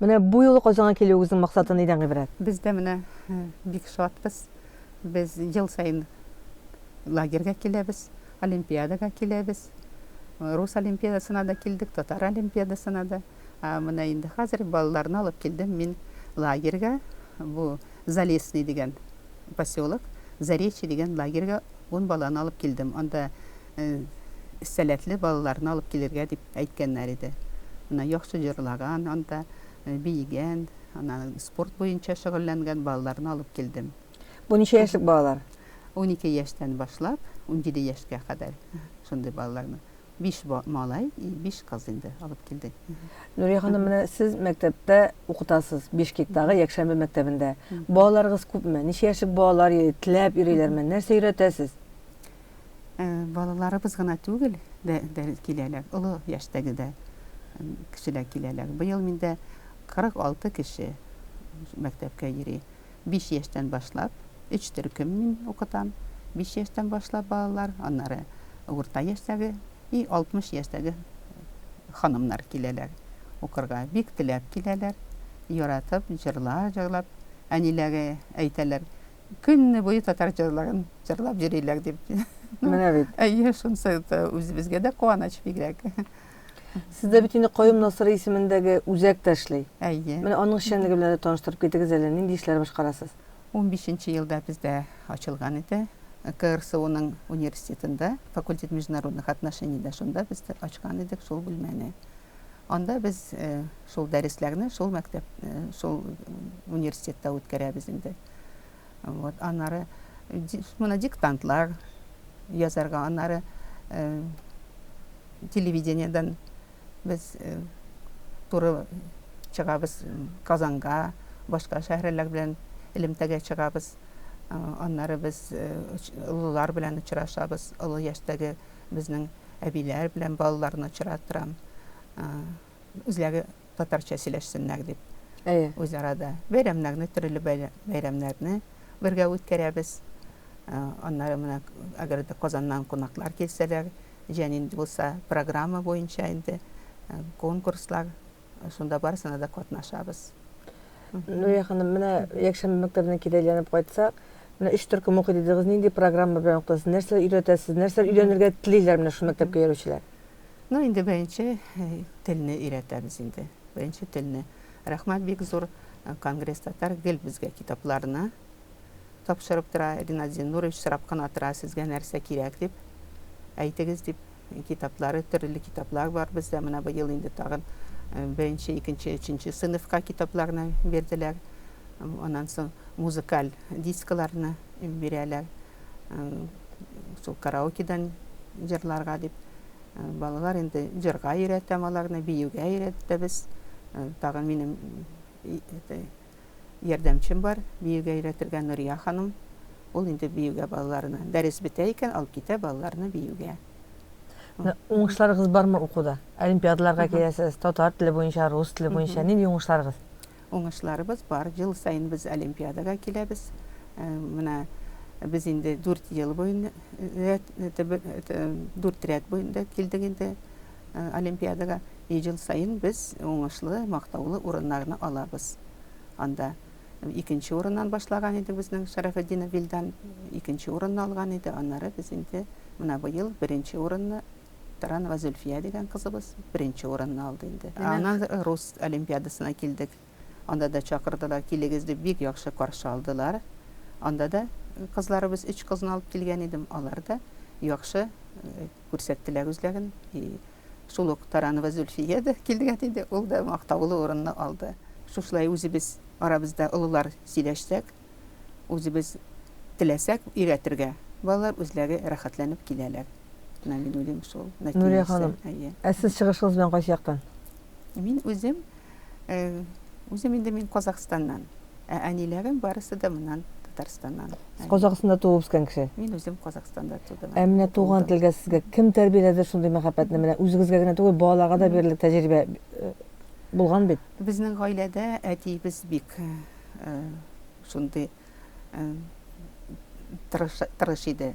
Менә бу юлы Казанга килүегезнең максаты нидән гыйбрәт? Без дә менә бик шатбыз. Без ел саен лагерьга киләбез, олимпиадага киләбез. Рус олимпиадасына да килдек, татар олимпиадасына да. Ә менә инде хәзер балаларны алып килдем мин лагерьга. Бу Залесный дигән поселок, Заречье дигән лагерьга ун баланы алып килдем. Анда сәләтле балаларны алып килергә дип әйткәннәр иде. Менә яхшы җырлаган, анда биегән, ана спорт буенча шөгыльләнгән балаларны алып килдем. Бу ничә яшьлек балалар? Унике яшьтән башлап, унҗиде яшькә кадәр шундый балаларны. Биш малай и биш кыз инде алып килдек. Нурия ханым, менә сез мәктәптә укытасыз, Бишкектагы якшәмбе мәктәбендә. Балаларыгыз күпме? Ничә яшьлек балалар йөри, теләп йөриләрме? Нәрсә өйрәтәсез? Балаларыбыз гына түгел, дә киләләр, олы яшьтәге дә кешеләр киләләр. Быел миндә 46 кеше мәктәпкә йөри. Биш яшьтән башлап, өч төркем мин укытам. Биш яшьтән башлап балалар, аннары урта яшьтәге и 60 яшьтәге ханымнар киләләр укырга. Бик теләп киләләр, яратып, җырлар җырлап, әниләре әйтәләр, Көнне буе татар җырларын җырлап йөриләр дип. Менә бит. Әйе, шунысы үзебезгә дә куаныч бигрәк. Сездә бит инде Каюм Насыйри исемендәге үзәк тә эшли. Әйе. Менә аның эшчәнлеге белән дә таныштырып китегез әле, нинди эшләр башкарасыз? Унбишенче елда бездә ачылган иде. КРСУның университетында, факультет международных отношений дә шунда без ачкан идек шул бүлмәне. Анда без шул дәресләрне шул мәктәп, шул университетта үткәрәбез инде. Вот, аннары моны диктантлар язарга, аннары э, телевидениедән без э, туры чыгабыз Казанга, башка шәһәрләр белән элемтәгә чыгабыз. Э, аннары без олылар белән очрашабыз, олы яшьтәге безнең әбиләр белән балаларны очратырам. Үзләре татарча сөйләшсеннәр дип. Әйе. Үзара да бәйрәмнәрне, төрле бәйрәмнәрне бергә үткәрәбез. Аннары менә, әгәр дә Казаннан кунаклар килсәләр, җәнин булса, программа буенча инде конкурслар, шунда барысына да катнашабыз. Нурия ханым, менә якшәмбе мәктәбенә кире әйләнеп кайтсак, менә өч төркем укый дидегез, нинди программа белән укытасыз, нәрсә өйрәтәсез, нәрсә өйрәнергә телиләр менә шул мәктәпкә йөрүчеләр? Ну инде беренче телне өйрәтәбез инде. Беренче телне. Рәхмәт бик зур Конгресс Татар гел безгә китапларны тапшырып тора. Ринат Зиннурович сорап кына тора, сезгә нәрсә кирәк дип, әйтегез дип. Китаплары, төрле китаплар бар бездә. Менә быел инде тагын беренче, икенче, өченче сыйныфка китапларны бирделәр. Аннан соң музыкаль дискаларны бирәләр. Шул караокедан җырларга дип. Балалар инде җырга өйрәтәм аларны, биюгә өйрәтәбез. Тагын минем ярдәмчем бар, биюгә өйрәтергә Нурия ханым. Ул инде биюгә балаларны, дәрес бетә икән, алып китә балаларны биюгә. Уңышларыгыз бармы укуда? Олимпиадаларга керәсез, татар теле буенча, рус теле буенча. Нинди уңышларыгыз? Уңышларыбыз бар. Ел саен без олимпиадага киләбез. Менә без инде дүрт ел буен рәт, дүрт рәт буенда килдек инде олимпиадага. И ел саен без уңышлы, мактаулы урыннарны алабыз анда. Икенче урыннан башлаган иде безнең Шәрәфетдинов Вилдан, икенче урынны алган иде. Аннары без инде менә быел беренче урынны Таранова Зөлфия дигән кызыбыз беренче урынны алды инде. Аннан рус олимпиадасына килдек. Анда да чакырдылар, килегез дип, бик яхшы каршы алдылар. Анда да кызларыбыз, өч кызны алып килгән идем, алар да яхшы күрсәттеләр үзләрен. И шул ук Таранова Зөлфия дә килгән иде, ул да мактаулы урынны алды. Шушылай үзебез арабызда олылар сөйләшсәк, үзебез теләсәк өйрәтергә, балалар үзләре рәхәтләнеп киләләр. Менә мин уйлыйм шул нәтиҗәсе. Нурия ханым, ә сез чыгышыгыз белән кайсы яктан? Мин үзем, үзем инде мин Казахстаннан, ә әниләрем барысы да моннан Татарстаннан. Сез Казахстанда туып үскән кеше? Мин үзем Казахстанда тудым. Ә менә туган телгә сезгә кем тәрбияләде шундый мәхәббәтне? Менә үзегезгә генә түгел, балаларга да бирерлек тәҗрибә булган бит. Безнең гаиләдә әтиебез бик шундый тырыш иде.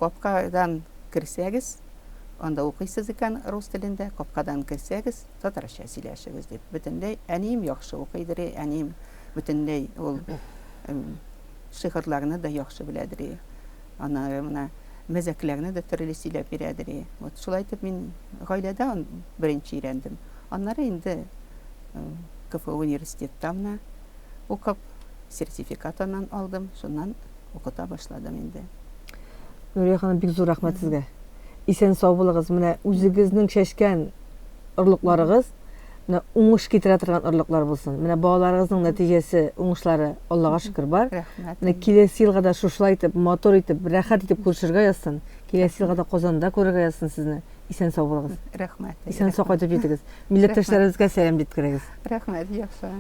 Капкадан керсәгез, анда укыйсыз икән рус телендә, капкадан керсәгез, татарча сөйләшегез дип. Бөтенләй әнием яхшы укыйдыр, әнием бөтенләй ул шигырьләрне дә яхшы беләдер. Аннары менә мәзәкләрне дә төрле сөйләп бирәдер. Вот шулай итеп мин гаиләдә беренче өйрәндем. Аннары инде КФУ университетта менә укып, сертификат аннан алдым, шуннан укыта башладым инде. Нурия ханым, бик зур рәхмәт сезгә. Исән сау булыгыз. Менә үзегезнең чәчкән орлыкларыгыз менә уңыш китерә торган орлыклар булсын. Менә балаларыгызның нәтиҗәсе, уңышлары Аллага шөкер бар. Рәхмәт. Менә киләсе елга да шушылай итеп, матур итеп, рәхәт итеп күрешергә язсын. Киләсе елга да Казанда күрергә язсын сезне. Исән сау булыгыз. Рәхмәт. Исән сау кайтып җитегез. Милләттәшләребезгә сәлам җиткерегез. Рәхмәт, яхшы.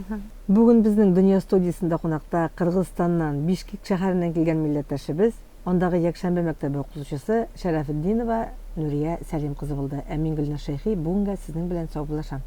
Бүген безнең Дөнья студиясендә кунакта Кыргызстаннан, Бишкек шәһәреннән килгән милләттәшебез, андагы якшәмбе мәктәбе укытучысы Шәрәфетдинова Нурия Сәлим кызы булды. Ә мин Гөлназ Шәйхи бүгенгә сезнең белән саубуллашам.